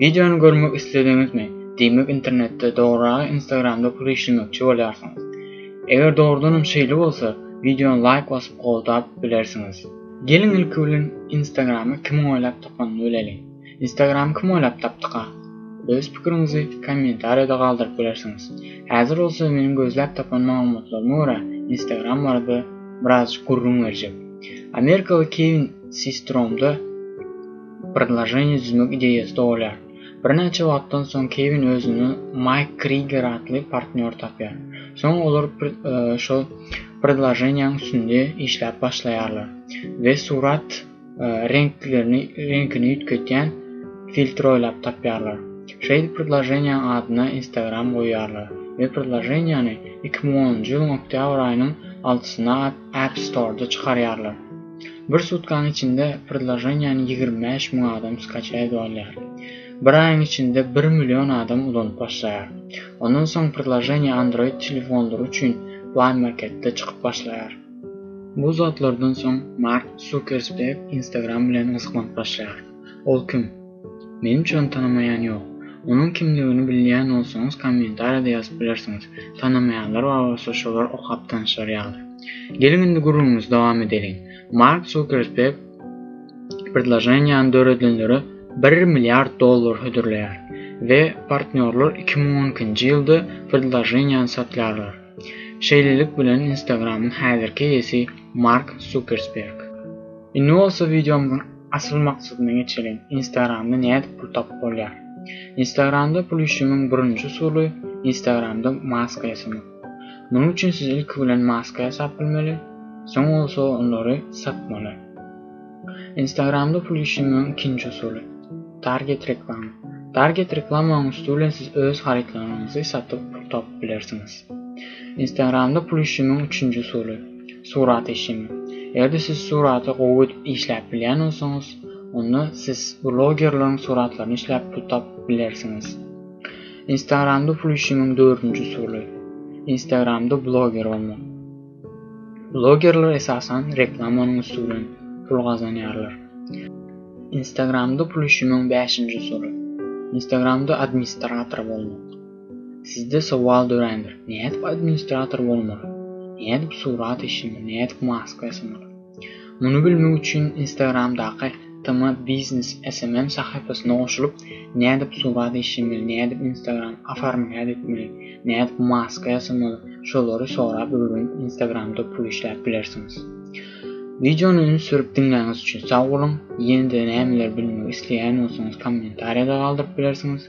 Wideony görmek islediňizmi? Diýmek internetde, dogryragy instagramda pul işlemekçi bolýarsyňyz. Eger dogrudanam şeýle bolsa, wideony laýk basyp goldap bilersiňiz. Geliň ilki bilen instagramy kimiň oýlap tapanyny bileliň. Instagramy kim oýlap tapdyka? Öz pikiriňizi kommentariýada galdyryp bilersiňiz. Häzir bolsa meniň gözläp tapan maglumatlaryma görä instagram barada birazjyk gürrüň berjek. Amerikaly Kewin Sistromda. Predloženiýa düzmek ideýasy dogulýar. Birnäçe wagtdan soň Kewin özüne Maýk Kriger atly partnýor tapýar. Soň olar şol predloženiýanyň üstünde işläp başlaýarlar we surat reňkini üýtgetýän filtr oýlap tapýarlar. Şeýdip predloženiýanyň adyna Instagram goýýarlar we predloženiýany iki müň onunjy ýylyň oktýabr aýynyň altysyna App Store-da çykarýarlar. Bir sutkaň içinde predloženiýany ýigrimi bäş müň adam skaça edip alýar. Bir aýyň içinde bir million adam ulanyp başlaýar. Ondan soň predloženiýa Android telefonlary üçin Play Marketde çykyp başlaýar. Bu zatlardan soň Mark Sukersberg Instagram bilen gyzyklanyp başlaýar. Ol kim? Meň üçem tanamaýan ýok. Onuň kimdigini bilýän bolsaňyz kommentariýada ýazyp bilersiňiz. Tanamaýanlar bar bolsa şolar okap tanyşar ýaly. Geliň indi gürrüňimizi dowam edeliň. Mark Zukerberg predloženiýany döredenlere bir milliard dollar hödürleýär we partnýorlar iki müň on ikinji ýylda predloženiýany satýarlar. Şeýlelik bilen Instagramyň häzirki eýesi Mark Zukersberg. Indi bolsa wideomyzyň Asyl maksadyna geçeliň. Instagramda nädip pul tapyp bolýar? Instagramda pul işlemegiň birinji usuly Instagramda maska ýasamak. Munuň üçin siz ilki bilen maska ýasap bilmeli, soň bolsa olary satmaly. Instagramda pul işlemegiň ikinji usuly Target reklama. Target reklamanyň üsti bilen siz öz harytlaryňyzy satyp pul tapyp bilersiňiz. Instagramda pul işlemegiň üçünji usuly Surat işimi. Eger-de siz suraty gowy edip işläp bilýän bolsaňyz, onda siz blogerleriň suratlaryny işläp pul tapyp bilersiňiz. Instagramda pul işimiň dördünji usuly. Instagramda bloger bolmak. Blogerler esasan reklamanyň üsti bilen pul gazanýarlar. Instagramda pul işimiň bäşinji usuly. Instagramda administrator bolmak. Sizde sowal dörändir, nädip administrator bolmaly? Nädip surat işini, nädip maska ýasamaly? Muny bilmek üçin Instagramdaky Tma Biznes SMM sahypasyna goşulyp, nädip surat işemeli, nädip Instagram oformlýat etmeli, nädip maska ýasamaly, şolary sorap öwrenip Instagramda pul işläp bilersiňiz. Wideony üns berip diňläniňiz üçin sag boluň. Ýene-de nämeler bilmek isleýän bolsaňyz kommentariýada galdyryp bilersiňiz.